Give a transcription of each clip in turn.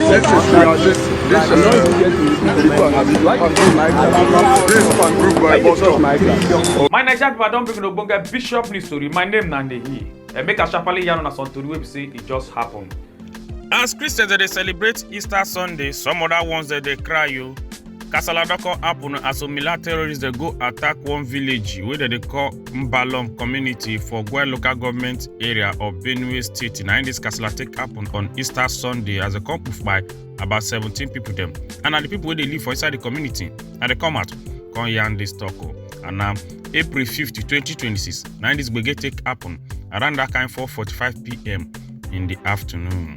This is uh, this this is uh, this one abi this one this one group by bus stop. My Naija people don bring ogbonge bishop news story. My name na Nehi. And make a sharply yarn on some tori wey be say e just happen. As Christians dey celebrate Easter Sunday, some other ones dey dey cry o. kasala don come happen as some mila terrorists dey go attack one village wey dem dey call mbalom community for gwe local government area of benue state na im dis kasala take happen on easter sunday as dem come poof by about seventeen people dem and na the people wey dey live for inside the community na dem come out come yarn dis talk o and na april fifth twenty twenty six na im dis gbege take happen around that kind four forty-five pm in the afternoon.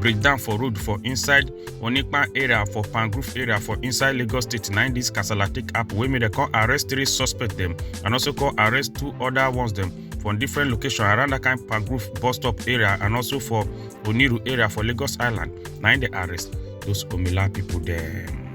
breakdown for road for inside onipan area for pangrove area for inside lagos state na dis kasala take happen wey make dem come arrest three suspects dem and also come arrest two other ones dem from different location around that kind pangrove bus stop area and also for oniru area for lagos island na im dey arrest those omila pipo dem.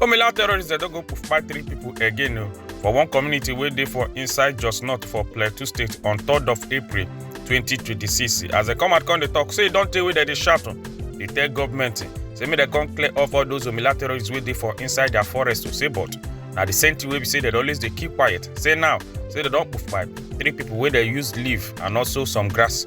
Omila terrorists dem don go kpai three people again o for one community wey dey for inside Jos North for Plateau State on 3rd of April 2026 as dem come out come dey talk say e don tey wey dem dey shout o dey tell government say make dem come clear off all those Omila terrorists wey dey for inside their forest o say but na the same thing wey be say dem always dey keep quiet say now say dem don kpai three people wey dem use leaf and also some grass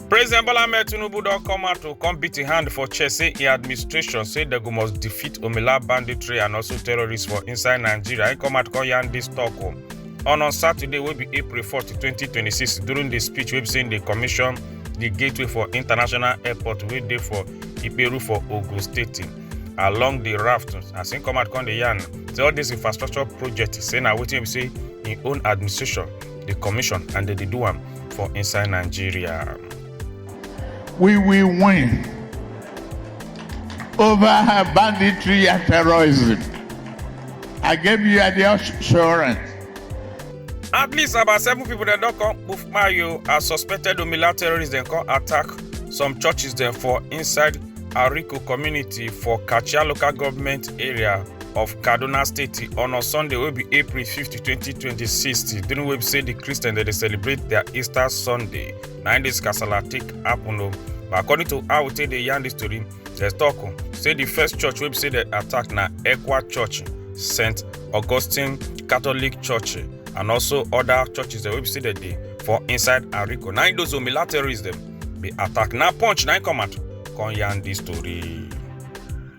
President Bola Ahmed Tinubu don come out to come beat im hand for chest say im administration say dem go must defeat Omila banditry and also terrorists for inside Nigeria. Im come out come yarn dis talk o. On on Saturday wey be April 4, 2026 during di speech wey be say im dey commission di gateway for international airport wey dey for Iperu for Ogun State along di raft as im come out come dey yarn say all dis infrastructure project say na wetin be say im own administration dey commission and dem dey do am for inside nigeria. We will win over her banditry and terrorism. I give you the assurance. at least about seven people dem don come poof mayo as suspected omila terrorists dem come attack some churches dem for inside ariko community for kachia local government area of kaduna state on a sunday wey be april 50 2026 during wey be say di christian dem dey celebrate their easter sunday na im dis kasala take happen o but according to how we take dey yarn dis tori dem tok say di first church wey be say dem attack na ekwa church st augustine catholic church and also oda churches dem wey be say dem dey for inside ariko na im those omila terrorists dem bin attack na punch na im come out come yarn dis tori.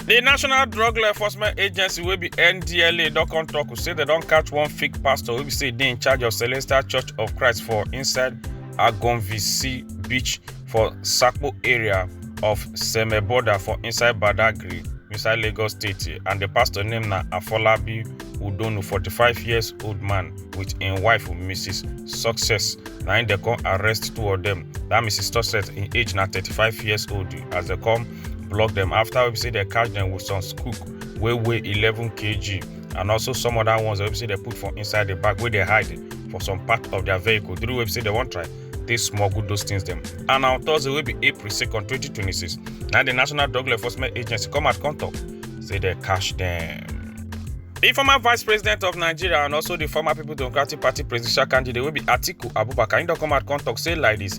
di national drug law enforcement agency wey be ndla don come tok say dem don catch one fake pastor wey be say dey in charge of celestial church of christ for inside agonvisi beach for sakpo area of seme border for inside badagry inside lagos state and di pastor name na afolabi udonu 45 years old man wit im wife mrs success na im dem come arrest two of dem dat mrs success im age na 35 years old as dem come block dem after wey be say dem catch dem with some scoop wey weigh eleven kg and also some other ones wey be say dem put for inside the bag wey dey hide for some part of their vehicle during wey be say dem wan try take smuggle those things dem and na on thursday wey be april second twenty twenty six na the national drug law enforcement agency come out come talk say dem catch dem. The former vice president of Nigeria and also the former People Democratic Party presidential candidate wey be Atiku Abubakar, he don come out come talk say like this,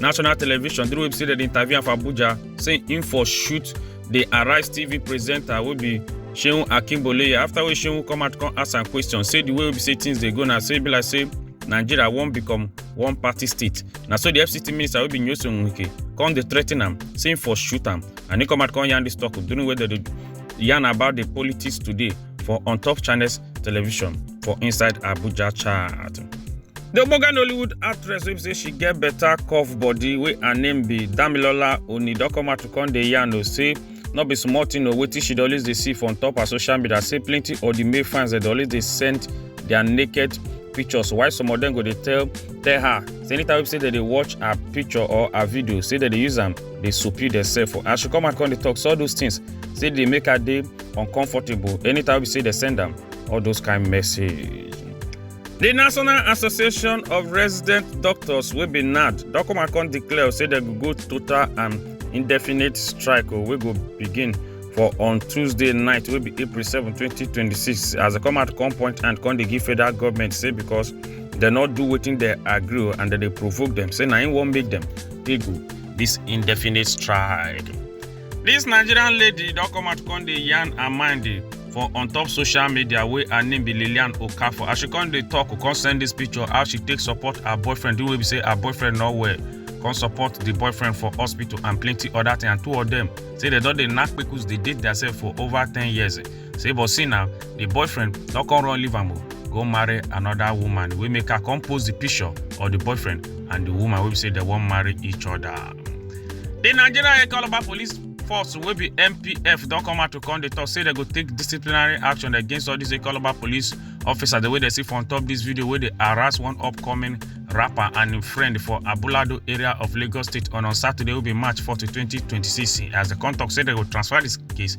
national television through web say interview am for abuja say im for shoot the arise tv presenter wey be seun akinboleye after wey seun come out come ask am question say the way wey be say things dey go na say e be like say nigeria wan become one party state na so the fct minister wey be nyesom wike come dey threaten am say im for shoot am and he come out come yarn dis talk during wey dem dey yarn about the politics today for on top channels television for inside abuja chat di ogbonge nollywood actress wey be say she get better curve body wey her name be damilola onidokoma to come dey yarn o say no be small thing o wetin she dey always dey see for on top her social media say plenty of di male fans dey always dey send their naked pictures while some of dem go dey tell tell her say anytime wey be say dem dey watch her picture or her video say dem dey use am dey soppy themselves for as she come out come dey talk so all those things say dey make her dey uncomfortable anytime we see the send them all those kind message. The National Association of Resident Doctors will be NAD. Dokomakon declare say they go total and indefinite strike oh, We go begin for on Tuesday night will be April 7, 2026 as they come out come point and come they give federal government say because they not do waiting they agree oh, and then they provoke them say now won't make them they go this indefinite strike. Dis Nigerian lady don come out come dey yarn her mind eh, for on top social media wey her name be Lillian Okafor as she come dey talk come send dis picture how she take support her boyfriend the way be say her boyfriend no well come support the boyfriend for hospital and plenty other thing and two of them say they don dey knack kpekus dey date theirself for over ten years eh. say but see now the boyfriend don come run leave am o go marry another woman wey make her come post the picture of the boyfriend and the woman wey be say dem wan marry each other. the nigerian economy police force wey be npf don come out to come dey talk say dem go take disciplinary action against all these economy police officers the way dem see for on top this video wey dey harass one upcoming rapper and im friend for abulado area of lagos state on on saturday wey be march 4 2026 as dem come talk say dem go transfer this case